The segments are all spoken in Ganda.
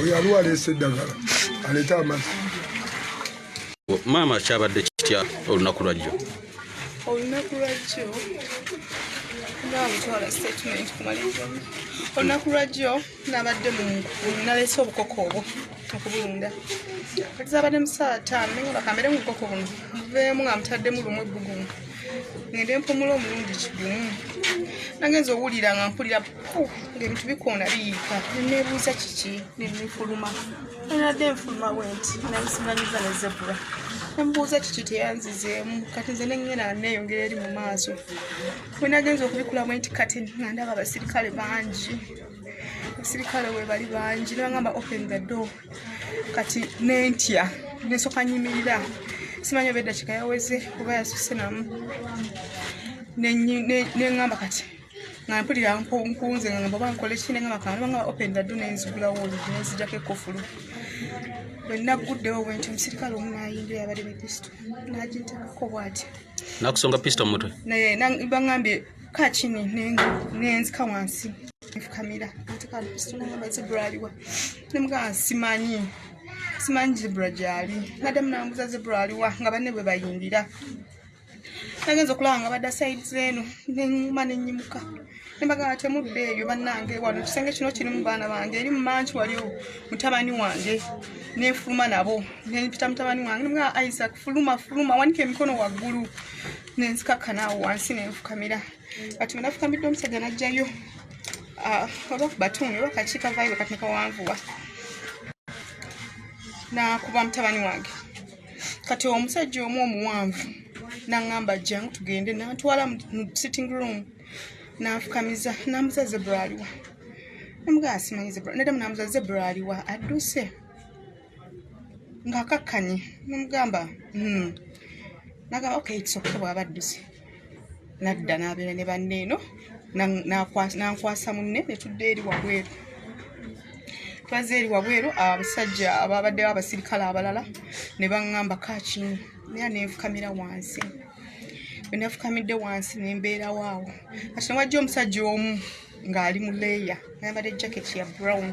oyo aliwo aleese eddagala aleeta amazzi maama kyabadde kitya olunaku lwajjo olunaku lwajjo nga butwala statement kumaliriza olunaku lwajjo nabadde munalese obukoko obwo okubulunda kati zabadde mu saawa taano naye bakambere mu bukoko buno muveemu nga mutaddemu lumu ebbugumu ngende mpumula omulundi kigumu nagenza owulira nga mpulira ngaebintu bikoona biyiika nenebuuza kiki nenefuluma nenadde nfuluma bwenti nayisimanyiza ne zebura nemubuuza kiki teyanzizeemu kati nze nengena neyongera eri mu maaso wenagenza okubikula bwenti kati nga ndaba abasirikale bangi abasirikale webali bangi nebagamba open the door kati nentya nesoka nyimirira simanyi oba eddakiika yaweze oba yasuse namu neŋamba kati nga mpulira nkunze nga ngamba oba nkole ki neŋamba kana nebangamba open the door nenzigulawo olugi nenzijako ekofulu bwenaguddewo bwenti omusirikale omu nayingira yabadde ne pisto nagintekako bwati nakusonga pisto mumutwe naye bangambye Kaa chini nenzika wansi nfukamira ntekantunaba zebra aliwa nemugaa simanyi simanyi zebra gyali nadde munambuza zebra aliwa nga banne bwe bayingira nagenza okulaba nga badda saidi zeeno nenyuma nenyimuka nembagaa temudde eyo bannange wano ekisenge kino kirimu baana bange eri mumanki waliwo mutabani wange nenfuluma nabo nempita mutabani wange nemugaa isaac fuluma fuluma wanika emikono waggulu nenzikakkana awo wansi nenfukamira kati wenafukamidde omusajja najjayo ah, oba kubatuuni oba kakiika vaibe kati nekawanvuwa nakuba mutabani wange kati omusajja omu omuwanvu naŋamba jangu tugende nantwala mu sitting room nanfukamiza namuza zebra aliwa namugaa simanyi zebra nadamu namuza zebra aliwa adduse ng'akakkanye nomugamba hmm. nagamba okay it's okay bwaba adduse nadda n'abeera ne banne eno nankwasa munne netudde eri wabweru twaze eri wabweru abasajja ababaddewo abasirikale abalala ne baŋŋamba kakini era nenfukamira wansi bwenafukamidde wansi nembeerawo awo kati newajja omusajja omu ng'ali mu leeya nayambadde jacket ya brown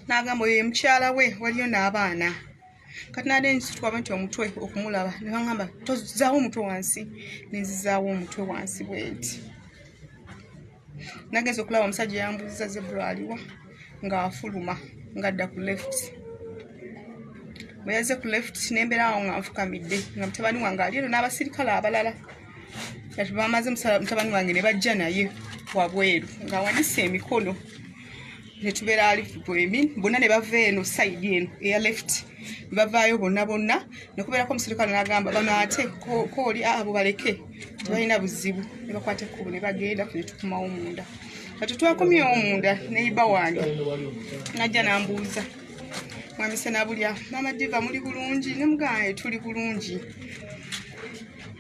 n'agamba oyo ye mukyala we waliyo n'abaana kati nade nsitwaba nti omutwe okumulaba ne baŋamba tozaawo omutwe wansi ne nzizaawo omutwe wansi bwenti nagenza okulaba omusajja yambuziza zebra aliwa ng'afuluma ng'adda ku left bwe yazze ku left nembeera awo nga nfukamidde nga mutabani wange ali eno n'abasirikale abalala kati bamaze mutabani wange ne bajja naye wabweru ng'awanise emikono netubeera alifu bwemin bonna ne bava eno saidi eno eya left bavaayo bonna bonna nekubeerako omuserikale nagamba bano ate kooli abo baleke tebalina buzibu nebakwata ekkubo nebagenda netukumawo munda kati twakomye omunda neyiba wange najja nambuuza mwamisana bulya mama diva muli bulungi nemugaa tuli bulungi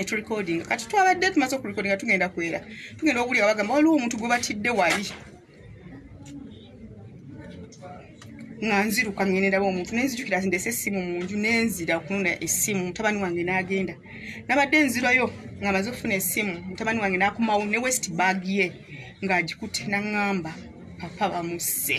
eturecording kati twabadde tumaze okurecordinga tugenda kwera tugenda okuwulira bagamba waliwo omuntu gwe batidde wali nga nziruka ngendaba omuntu nenzijukira nti ndese essimu mu nju nenzira okunona essimu mutabani wange n'agenda nabadde nzirayo nga maze okufuna essimu mutabani wange n'akomawo ne west bag ye ng'agikute naŋŋamba papa bamusse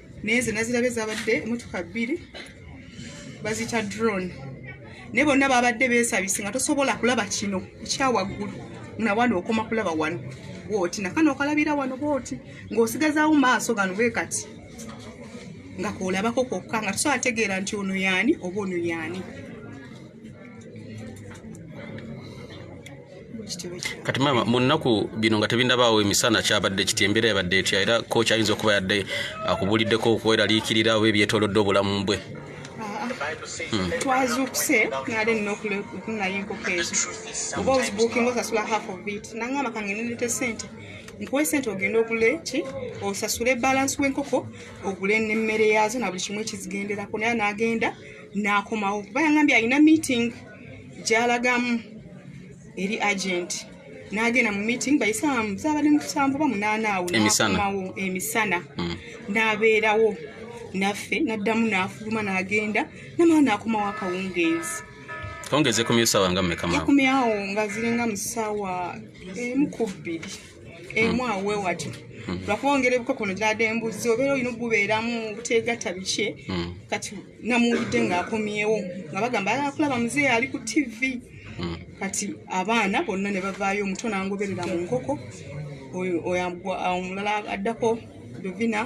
naye nze nazirabe zabadde emotoka bbiri bazita drone naye bonna babadde besabise nga tosobola kulaba kino ekyawaggulu nawano okoma kulaba wano bwoti nakano okalabira wano bwoti ng'osigazaawo maaso gano bwe kati nga kolabako kwokka nga tusobola ategeera nti ono yaani oba ono yaani kati maama mu nnaku bino nga tebindabaawo emisana kyabadde kiti embeera yabadde etya era kooki ayinza okuba yadde akubuuliddeko okweraliikirira oba ebyetolodde obulamu bwe hmm. twazuukuse nali nina okunayo enkoko ezo oba ozibuukinga osasula half of it nangamba kange nirete sente nkuwa esente ogenda ogule ki osasule balansi w'enkoko ogule n'emmere yaazo na buli kimu ekizigenderako naye n'agenda n'akomawo kuba yangambye alina meeting gyalagamu eri agenti nagenda mu meeting bayisamu zabadde musanvu ba munaana awo nakomawo emisana mm. nabeerawo naffe naddamu nafuluma nagenda namala nakomawo akawungeezi ongeze kumya sawa nga mmekamkumyawo nga ziringa mu sawa emu ku bbiri emu hmm. awe wati hmm. lwakuba ongera ebikokono gyade embuzi obeera olina okubeeramu buteegatta bikye hmm. kati namuwulidde ng'akomyewo nga bagamba ayala kulaba muzeeyi ali ku tivi hmm. kati abaana bonna ne bavaayo omuto nangoberera mu nkoko omulala addako duvina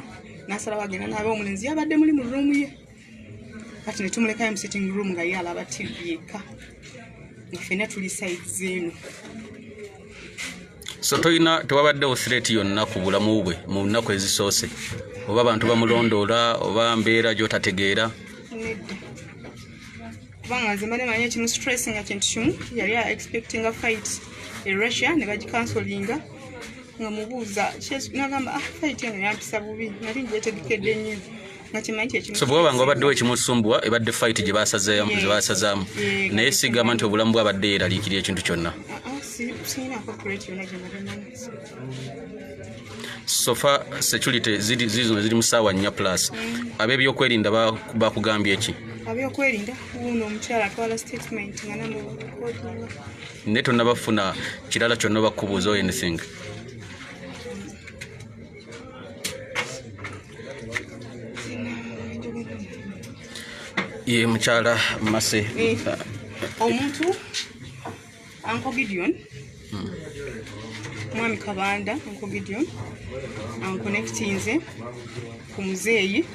nasalawo agenda naabe omulenzi yabadde muli mu ruumu ye kati ne tumulekayo mu sitting room nga ye alaba tivi yekka nga fenna tuli saizi eno so toyina tewabaddewo threat yonna ku bulamu bwe mu nnaku ezisoose oba abantu bamulondoola oba mbeera gyotategeera kubanga nze mbadde manyi ekimu stress nga kintu kimu yali a expecting a fight e russia ne bagikansolinga nga mubuuza nagamba ah, fight eno yampisa bubi nali ngyetegekedde nnyo so bwewaba nga wabaddewo ekimusumbwa ebadde fight gye basazaamu naye sigamba nti obulamu bwabadde yeraliikirira ekintu kyonna sofa security zizino ziri mu saawa nnya plus mm. ab'ebyokwerinda bakugambye eki abyokwerinda wuuno omukyala atwala statement nga namukotinga naye tonabafuna kirala kyonna bakubuuza anything ye mukyala mase eh, omuntu anko gideon hmm. mwami kabanda anko gideon ankonekitinze ku muzeeyi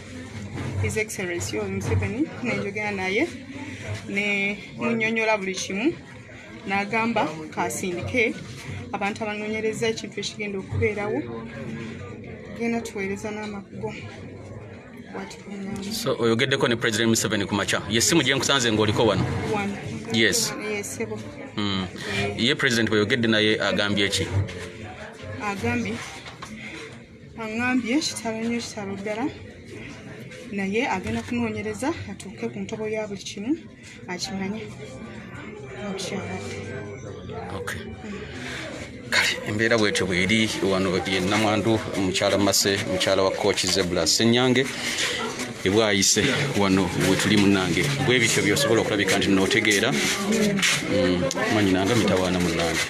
his excellency omuseveni nenjogera naye ne munyonyola buli kimu n'agamba kasindike abantu abanoonyereza ekintu ekigenda okubeerawo genda tuweereza n'amakugo so oyogeddeko ne president museveni ku makya yesimu gye nkusanze ng'oliko wano yes hmm. ye president bweyogedde naye agambye ki agambye aŋambye kitalo nyo kitalo ddala naye agenda kunoonyereza atuuke ku ntobo ya buli kimu akimanye okay kale embeera bwetyo bweri wano yenamwandu mukyala mase mukyala wa coach zebula senyange ebwayise wano wetuli munange bwebityo byosobola okulabika nti notegeera mm, manyi nange mitawaana munange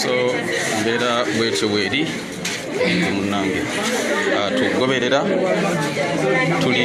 so mbeera bwetyo bweri munange ah, tugoberera tuli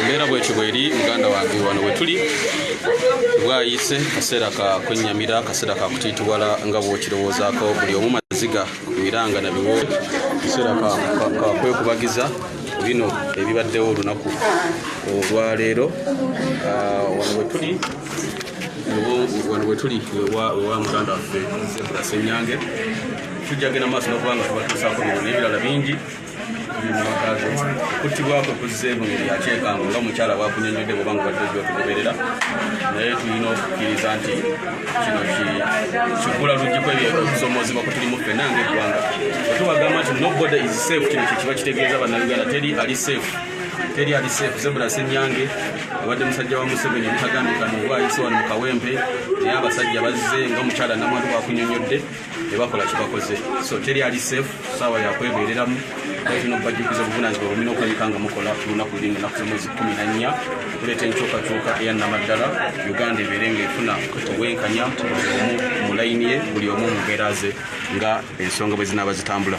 embeera bwetyo bweri muganda wange wano wetuli bwayise kaseera ka kwennyamira kaseera ka kutiitiwala nga bwokirowoozaako buli omu maziga ku miranga na biwo kaseera kakwekubagiza bino ebibaddewo olunaku olwaleero ah, wano wetuli wano wetuli ewa muganda waffe zebra senyange tujjagenda maaso nokubanga tubatuusaako bino nebirala bingi kutibwako kuzze mu ngeri yakyekango nga omukyala bwakunyonyodde bwoba nga wadde ojja otugoberera naye tulina okukkiriza nti kino kigula luggi kwebyekusomoozebwa kwe tulimu ffenna nga eggwanga otubagamba nti nobody is safe kino kyekiba kitegeeza bannayuganda teri ali safe teri ali safe zebula senyange abadde musajja wa museveni ebitagambika nobwayise wano mu kawempe naye abasajja bazze nga omukyala namwantu bwakunyonyodde tebakola kibakoze so teri ali safe saawa yakwebereramu kino bajjukiza obuvunanyizibwa bwemina okulabika nga mukola lunaku luli nga enaku zomwezi kumi na nnya okuleeta enkyukakyuka eya namaddala uganda ebeere nga efuna obwenkanya buli omu mu layini ye buli omu mu mbeera ze nga ensonga bwe zinaaba zitambula